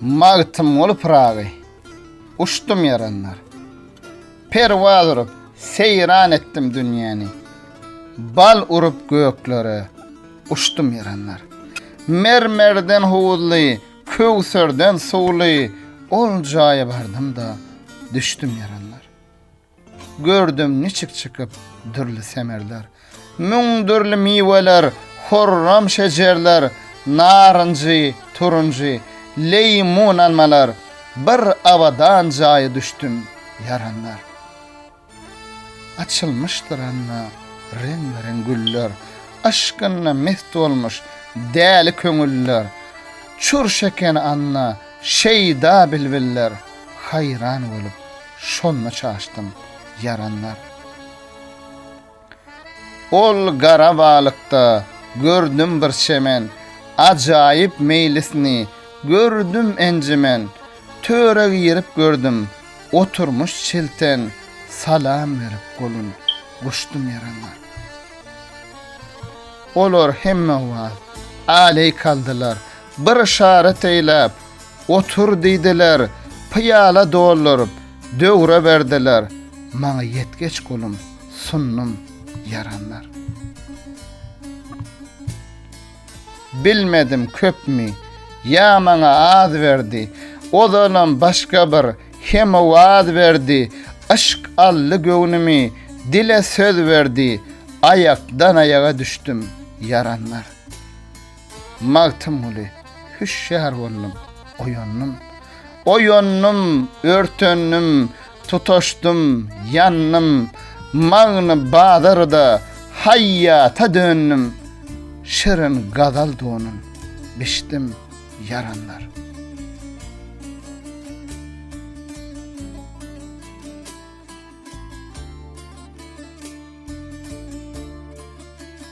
Magtymguly Pyragy Uçdum ýaranlar Perwaz urup seýran etdim dünýäni Bal urup göklere uçdum ýaranlar Mermerden howuzly köwserden suwly Ol jaýa bardym-da düşdüm ýaranlar Gördüm niçik çykyp dürli semerler, Müň dürli miweler, hürrem şejerler, Narynjy, turunjy, leýmun almalar, Bir abadan jaýa düşdüm, ýaranlar. Açylmyşdyr anda reňbe-reň güller, Yşkynda mest bolmuş däli köňüller, Çürş eken anda şeýda bilbiller, Haýran bolup, Şonda çaşdym, ýaranlar. Ol gara balykda gördüm bir çemen, Ajaýyp meýlisini gördüm encimen. Töre girip gördüm, oturmyş çilten, Salam berip golun guşdum ýaranlar. Olar hemmeowaz aleý kaldylar, Bir yşarat eýläp, Otur diýdiler, pyýala dolduryp, döwre berdiler. Maňa ýetgeç gulum, sundum ýaranlar. Bilmedim köpmi, ýa maňa az berdi, ozalam başga bir hemowaz berdi, yşk aldy göwnümi, dile söz berdi, aýakdan-aýaga düşdüm ýaranlar. Magtymguly, Hüşgär boldum, oýandym. Oýandym, örtendim, tutaşdym, ýandym. Magny bazarda haýýata döndüm. Şirin gazal donun biçdim, ýaranlar.